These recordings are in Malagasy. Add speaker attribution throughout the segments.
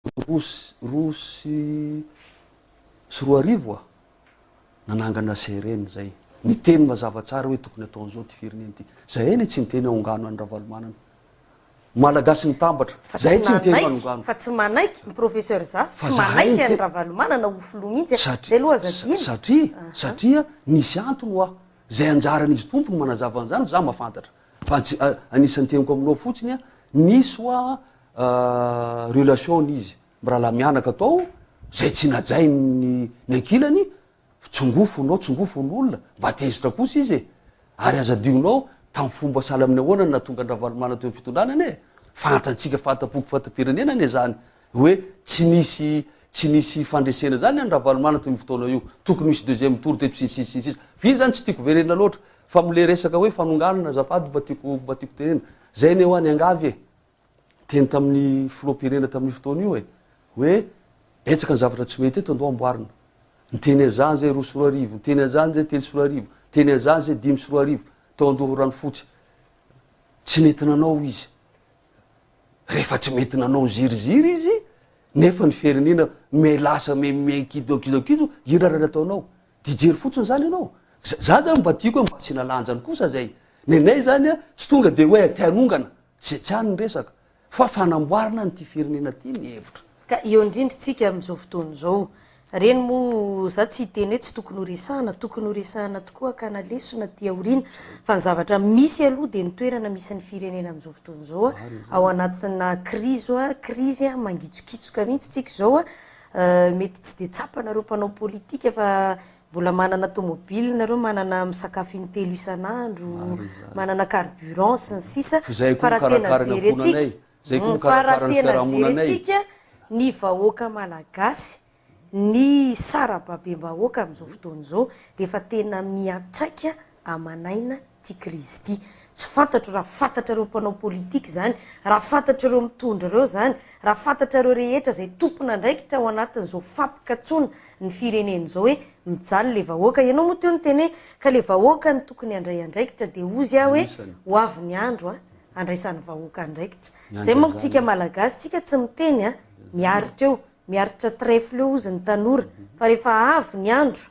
Speaker 1: roa sy roa sy sy roa arivo aho nanangana CRN zay. Niteny mazava tsara hoe tokony atao an'izao ity firenena ity. Zahay anie tsy niteny ahongano an'i Ravalomanana. Malagasy mitambatra. Fa Zahay tsy tsy niteny manaiky, manongano. fa tsy manaiky, ny
Speaker 2: Professeur Zafy Fa tsy zahay manaiky niteny- an'i Ravalomanana ho filoha mihitsy e. Satri- Zay aloha aza sa- adino. Satria, Aha. satria
Speaker 1: nisy antony ho aho. Zay anjaran'izy Tompo no manazava an'izany fa za mahafantatra. Fa tsy, anisan'ny teniko aminao fotsiny, nisy hoa relation n'izy mirahalahy mianaka tao, zay tsy najain'ny ny ankilany, tsongofonao, tsongofon'olona, mba tezitra kosa izy e! Ary aza adinonao, tamin'ny fomba sahala amin'ny ahoana no nahatonga an-dRavalomanana teo amin'ny fitondrana anie e! Fantatsika, fanta-poko, fanta-pirenena anie zany, Hoe tsy nisy tsy nisy fandresena zany an Ravalomanana tamin'io fotoana io. Tokony hisy deuxième tour teto sy ny sisa sy ny sisa. Vita zany tsy tiako verenina loatra. Fa mle resaka hoe fanonganana azafady mba tiako mba tiako tenena. Zay anie hoa niangavy e. Teny tamin'ny filoham-pirenena tamin'io fotoana io e. Hoe betsaka ny zavatra tsy mety eto ndao amboarina. Niteny an'zany zay roa sy roa arivo, niteny an'zany zay telo sy roa arivo, niteny an'zany zay dimy sy roa arivo tao Andoharanofotsy. Tsy nety nanao izy. Rehefa tsy mety nanao ziriziry izy nefa ny firenena me lasa me me kido kido kido inona raha nataonao? Dia jery fotsiny zany ianao. Za zany mba tiako hoe mba asiana lanjany kosa zay. Nenay zany a, tsy tonga dia hoe aty hanongana, tsy zay tsy any ny resaka. Fa fanamboarana an'ity firenena ty ny hevitra. Ka eo indrindra
Speaker 2: tsika amin'izao fotoana izao. Reny moa za tsy hiteny hoe tsy tokony ho resahana, tokony ho resahana tokoa ka na lesona aty aoriana fa ny zavatra misy aloha dia ny toerana misy ny firenena amin'izao fotoana izao ao anatina krizo krizy mangitsokitsoka mihitsy tsika izao mety tsy dia tsapana ireo mpanao politika fa mbola manana tomobile nareo manana misakafo intelo isan'andro manana carburant sy ny sisa fa raha tena jerentsika Zay ko mikarakara ny fiarahamonanay e! Fa raha tena jerentsika ny vahoaka malagasy, ny sarababem-bahoaka amin'izao fotoana izao dia efa tena miantraika aman'aina ity krizy ity. Tsy fantatro raha fantatrareo mpanao politika izany, raha fantatrareo mitondra ireo izany, raha fantatrareo rehetra izay tompon'andraikitra ao anatin'izao fampikatsoana ny firenena izao hoe mijaly ilay vahoaka. Ianao moa teo niteny hoe ka ilay vahoaka no tokony handray andraikitra dia hozy aho hoe ho avy ny andro an! andraisan'ny vahoaka andraikitra. Zay manko tsika malagasy tsika tsy miteny a! Miaritra eo, miaritra trèfle eo ozy ny tanora fa rehefa avy ny andro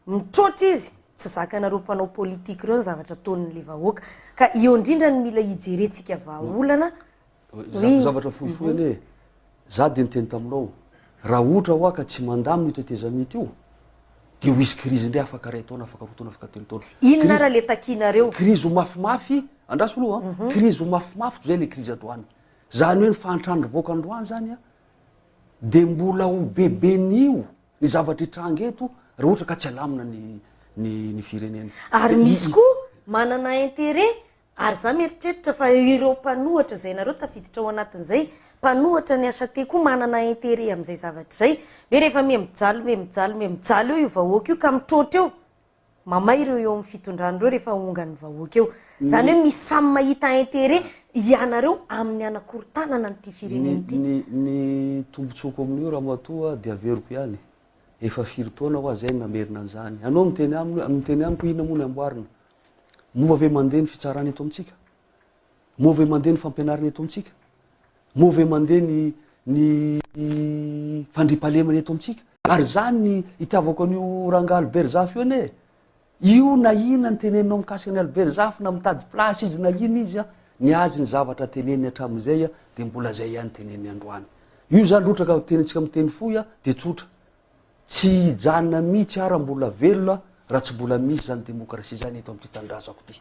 Speaker 2: mitroatra izy tsy zakanareo mpanao politique reo ny zavatra ataon'le vahoaka. Ka eo indrindra no mila hijerentsika vahaolana.
Speaker 1: Zavatra fohifohy anie e! Za dia niteny taminao, raha ohatra hoa ka tsy mandamina io tetezamita io, dia ho hisy krizy indray afaka iray taona, afaka roa taona, afaka telo taona. Inona ary le takianareo?
Speaker 2: Krizy ho mafimafy,
Speaker 1: andraso aloha an, krizy ho mafimafy toy izay le krizy androany. Zany hoe ny fahantrana nivoaka androany zany an, dia mbola ho beben'io ny zavatra hitranga eto raha ohatra ka tsy alamina ny ny ny firenena. Ary misy koa
Speaker 2: manana interet Ary za mieritreritra fa ireo mpanohatra zay nareo tafiditra ao anatiny zay, mpanohatra ny HT koa manana interet amzay zavatra zay, hoe rehefa me mijaly me mijaly me mijaly eo io vahoaka io ka mitroatra eo, mamay ireo eo aminy fitondrana ireo rehefa ongan'ny vahoaka eo. Zany hoe misy samy mahita interet ianareo aminy hanakorontanana an'ity firenena ity. Ny ny
Speaker 1: tombotsoako amin'io ramatoa dia averiko ihany, efa firy taona hoa zay no namerina an'izany, anao miteny aminy hoe miteny amiko hoe inona moa ny amboarina, Moa ve mandeha ny fitsarana eto amintsika? Moa ve mandeha ny fampianarana eto amintsika? Moa ve mandeha ny ny fandriampahalemana eto amintsika? Ary izany ny itiavako an'io rangahy Albert Zafy io anie e! Io na inona ny teneninao mikasika an'i Albert Zafy na mitady place izy na inona izy an, ny azy ny zavatra teneniny hatramin'izay dia mbola izay ihany teneniny androany. Io izany rotraka tenintsika miteny fohy dia tsotra. Tsy hijanona mihitsy ara mbola velona raha tsy mbola misy izany demokrasia izany eto amin'ity tanindrazako ity.